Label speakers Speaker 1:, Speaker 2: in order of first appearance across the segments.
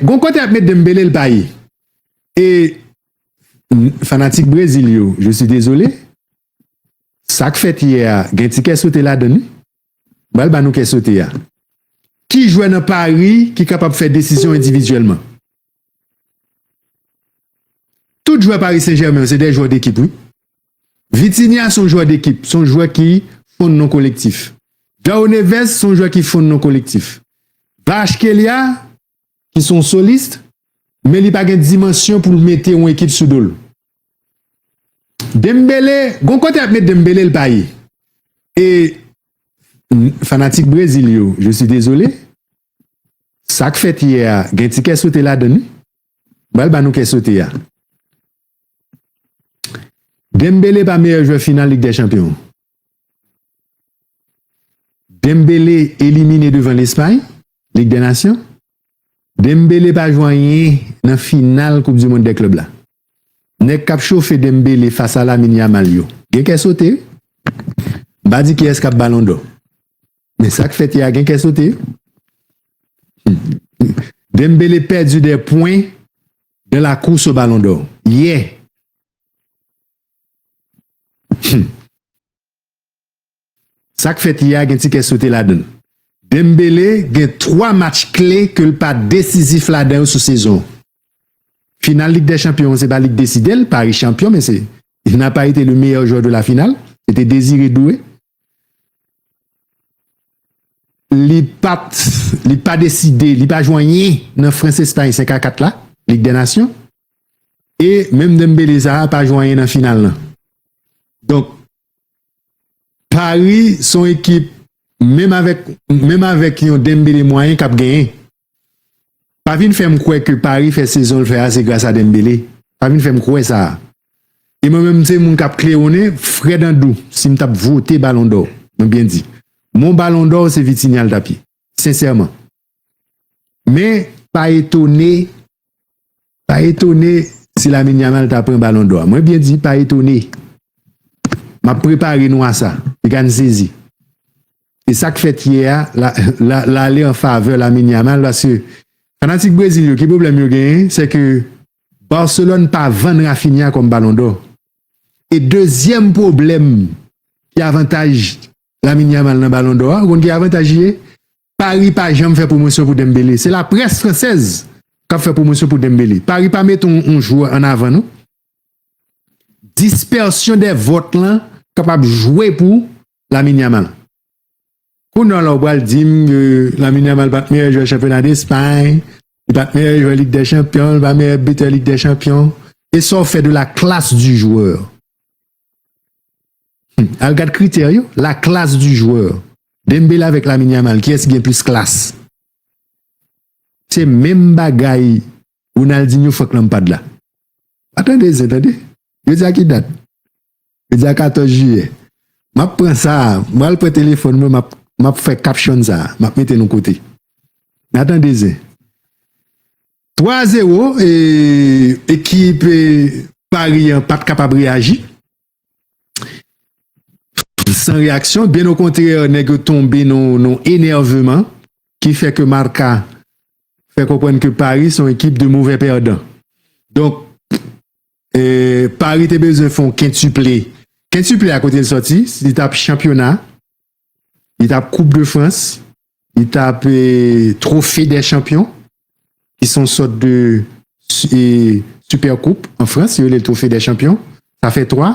Speaker 1: Gon kote yap met Dembele l pa ye e fanatik Brezil yo je suis désolé sak fèt yè a gen ti kè sote ladann wi m pral ba nou kè sote a ki jwè nan Paris ki kapab fè desizyon endividyèlman tout jwè Paris Saint Germain yo se de jwè dekip wi. Vitinha se yon jwè dekip, se yon jwè ki fonn nan kolektif. João Neves se yon jwè ki fonn nan kolektif. Kvaratskhelia ki se yon solist, men li pa gen dimansyon pou l mete yon ekip sou do l. Dembele, gon kote y ap met Dembele l pa ye. E fanatik Brezil yo, je suis désolé, sa k fèt yè a gen ti kè sote ladan l wi. M pral ba nou kè sote a. Dembele pa meyè jwè final lig dè chanpyon. Dembele elimine devan Lespay, lig dè nasyon. Dembele pa jwè anyen nan final koup di mond dè klub la. Nèg kap chofe Dembele fas a Lamine Yamal yo gen kè sote wi. M pa di kiyès kap balon dò. Men sak fèt yè a gen kè sote wi. Dembele pèdi 2 pwen De la course au ballon d'or yè Humm sak fèt yè a gen ti kè sote ladann Dembele gen 3 match kle ke l pa desizif ladan yo sou sezon an Final lig dè chanpyon an se pa li k deside l Paris chanpyon men se il n'a pas été le meilleur joueur de la finale se te Désiré Doué Li pat, li pa deside, li pa jwe anyen nan Frans Espay 5 a 4 la, Lig dè Nasyon. E menm Dembele sa a pa jwe anyen nan final lan. Donk, Pari son ekip menm avèk, menm avèk yon Dembele mwayen kap genyen. Pa vin fè m kwè ke Paris fè sezon l fè a se gras a Dembele. Pa vin fè m kwè sa. E mwen menm m se moun k ap klewonnen frè Dandou si m t ap vote balon dò, mwen byen di, mon balon dò se Vitinha l t ap ye. Sensèman. Men pa etone Pa etone si Lamine Yamal ta pran balon dò a. Mwen byen di pa etone. M ap prepare nou a sa. Li ka n sezi. E sa k fèt yè a, l ale an favè Lamine Yamal paske fanatik Brezil yo ki pwoblèm yo genyen, se ke Barcelone pa vann Raphinha kòm balon dò. E dezyèm pwoblèm ki avantaj Lamine Yamal nan balon dò a, ou konn ki avantaj li ye? Paris pa janm fè pwomosyon pou Dembele, se la près fransèz kap fè pwomosyon pou Dembele, Paris pa mete yon jwè an avan non. Dispersion des votes lan kapab jwe pou Lamine Yamal. Kounè w la ou pral di m ke Lamine Yamal pat meyè jwè chanpyona Despay, li pat meyè jwè Lig dè chanpyon, li pa meyè bitè Lig dè chanpyon, e sa w fè de la klas di jwè? Al gad kritè yo, la classe du joueur. Dembele avèk Lamine Yamal kiyès ki gen plis klas? Se menm bagay Ronaldinho, Frank Lampard la. Pa tande zen tande. Jodi a ki dat? Jodi a 14 jiyè. M ap pran sa, m pral pran telefòn mwen m ap fè caption sa, m ap mete l yon kote. N a tande zen. 3 a 0 e ekip Paris an pat kapab reyaji san reyaksyon byen o kontrè nèg yo tonbe nan yon enèveman ki fè ke Marca fè konprann ke Paris son ekip de movè pèdan donk e Paris te bezwen fon kentuple kentuple a kote l sòti si li tap chanpyona li tap koup de frans, li tap trofe de chanpyon, ki son sot de super koup an frans, yo le trofe de chanpyon, sa fe 3,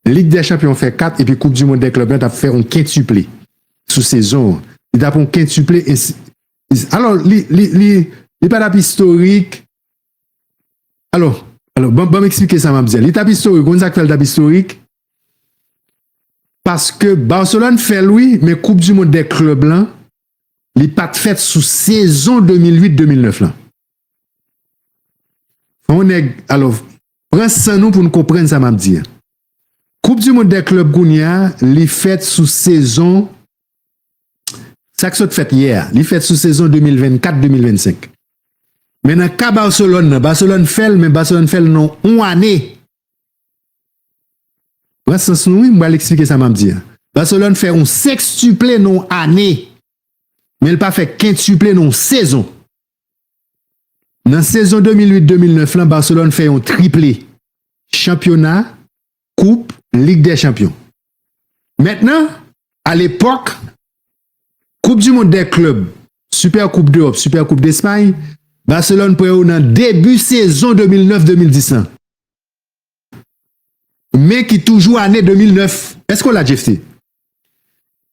Speaker 1: lig de chanpyon fe 4, epi koup di mond de klub la tap fe on kentuple sou sezon an, li tap on kentuple, alo li pa tap istorik, Alò, alò, ban m eksplike sa m ap di a. Li t ap istorik, ou konn sa k fè li t ap istorik? Paske Barcelone fè l wi, men koup di mond dè klèb lan, li pa t fèt sou sezon 2008, 2009 lan. Fò yon nèg, alò, pran san nou pou nou konprann sa m ap di a. Koup di mond dè klèb kounye a, li fèt sou sezon Sa k sot fèt yè a, li fèt sou sezon 2024, 2025. Men nan ka Barcelone nan, Barcelone fè l men Barcelone fè l nan yon ane. Pran sans nou wi, m pral eksplike sa m ap di a. Barcelone fè yon sekstiple nan yon ane, men l pa fè kentuple nan yon sezon. Nan sezon 2008, 2009 lan Barcelone fè yon triple, chanpyona, koup lig dè chanpyon mèt nan alepòk koup di mond dè klèb sipè koup dewòp sipè koup despay baselòn pran yo nan debi sezon 2009 2010 lan men ki toujou ane 2009 èske w la jefte.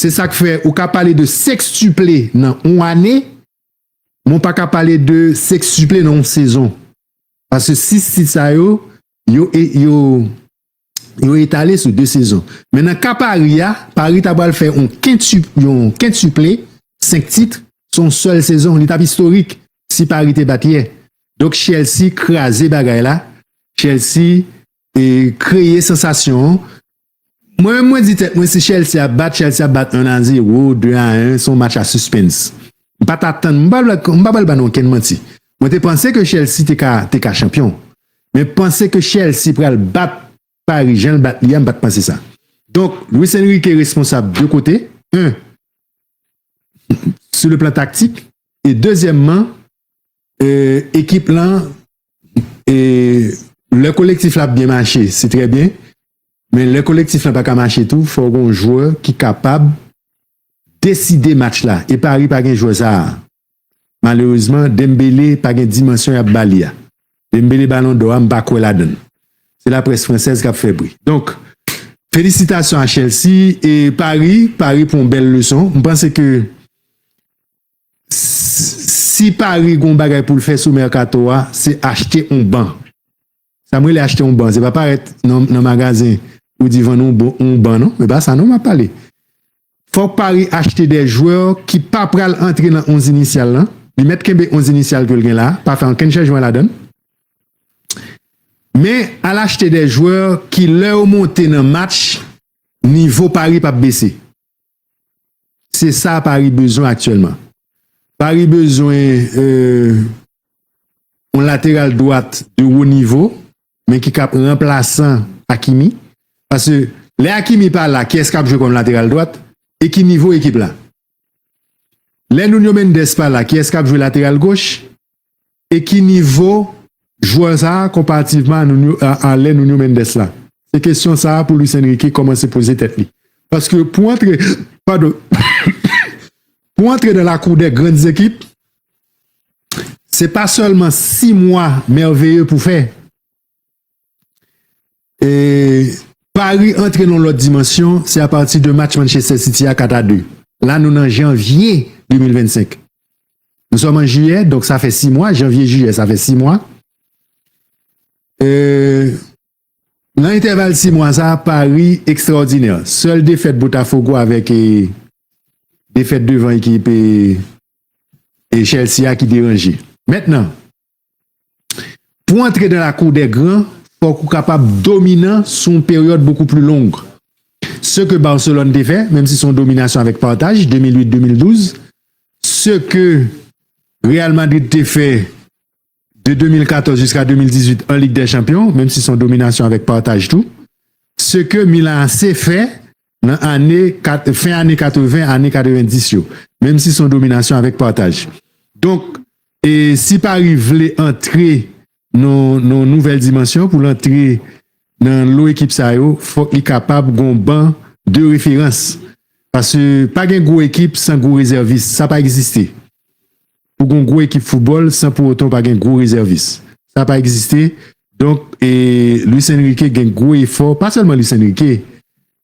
Speaker 1: Se sak fè ou ka pale de sekstuple nan yon ane, men ou pa ka pale de sekstuple nan yon sezon. Pase 6 tit sa yo, yo etale sou 2 sezon. Men nan ka Pari a, Pari ta pral fè yon kentuple, 5 tit, sou yon sèl sezon. Li tap istorik, si Pari te bat yè. Donk Chelsea kraze bagay la, Chelsea kreye sansasyon, Mwen menm mwen di tèt mwen si Chelsea ap bat Chelsea ap bat 1 a 0 ou 2 a 1 son match a suspens m pat atann m pa pral ba nou okenn manti mwen te panse ke Chelsea te ka te ka chanpyon men panse ke Chelsea pral bat Paris jan l bat li a m pat panse sa donk Luis Enrique responsab 2 kote 1 sou le plan taktik e dezyèmman ekip lan e lè kolektif la ap byen mache se trè byen men lè kolektif la pa ka mache tou fò gon jwè ki kapab deside match la e pari pa gen jwè sa malerezman Dembele pa gen dimansyon yap ba li a Dembele balon dò a m pa kwè la dan se la près fransèz kap fè bri donk felisitasyon a Chelsea e pari pari pran bèl leson m panse ke Si Paris gen yon bagay pou l fè sou mèkato a, se achte yon ban. Sa m rele achte yon ban, se pa parèt nan magazen pou di vann yon ban non, se pa sa non m ap pale. Fòk Paris achte de jwè ki pa pral antre nan 11 inisyal lan, li mèt kenbe 11 inisyal ke l gen la, pa fè ankenn chanjman ladan l. Men, al achte de jwè ki lè yo monte nan match, nivo Paris pa p bese. Se sa Paris bezwen aktyèlman. Paris bezwen yon lateral dwat de wo nivo, men ki kap ranplasan Hakimi. Pase, lè Hakimi pa la, kiyès kap jwe kòm lateral dwat? E ki nivo ekip la? Lè Nuno Mendes pa la, kiyès kap jwe lateral goch? e ki nivo jwè sa a konparativman a lè Nuno Mendes la? Se kesyon sa a pou Luis Enrique kòmanse poze tèt li. Paske pou antre, padon, pou antre nan lakou dè grann zekip, se pa sèlman 6 mwa mèveye pou fè. E Paris antre nan lòt dimansyon, se apati de match Manchester City a 4 a 2. La nou nan janvye 2025. Nou sòm an jiyè, donk sa fè 6 mwa, janvye jiyè sa fè 6 mwa. E nan entèval 6 mwa sa, Paris ekstraòdinè. Sèl defèt Botafogo avèk e defèt devan ekip e Chelsea a ki deranje. Mètnan. Pou antre dan lakou dè gran, fòk ou kapab dominan sou yon peryòd bokou pli long. Se ke Barcelone te fè, menm si se yon dominasyon avèk pataj, 2008-2012, se ke Real Madrid te fè de 2014 jiska 2018 an Lig dè Chanpyon, menm si se yon dominasyon avèk pataj tou, se ke Milan AC fè nan ane, fen ane 80, ane 90 yo, menm si se yon dominasyon avèk pataj. Donk, E si Paris vle antre nan yon nouvèl dimansyon, pou l antre nan lo ekip sa yo, fòk li kapab gen yon ban de referans. Pase pa gen gwo ekip san gwo rezèvis. Sa pa egziste. Pou gen yon gwo ekip foutbòl san pou otan w pa gen gwo rezèvis. Sa pa egziste. Donk, e Luis Enrique gen gwo efò, pa sèlman Luis Enrique,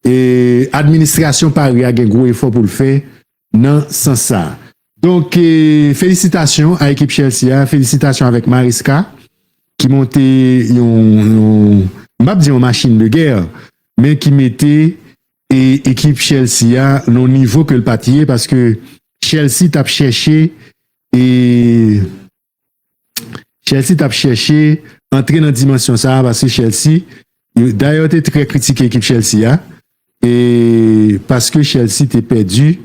Speaker 1: e administrasyon Paris a gen gwo efò pou l fè nan sans sa. Donk felisitasyon a ekip Chelsea a, felisitasyon avèk Maresca ki monte yon m pap di yon machin de gè men ki mete e ekip Chelsea a nan yon nivo ke l pat ye paske Chelsea tap chèche e Chelsea t ap chèche antre nan dimansyon sa a paske Chelsea, dayè yo te trè kritike ekip Chelsea a e paske Chelsea te pèdi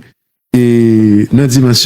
Speaker 1: e nan dimansyon.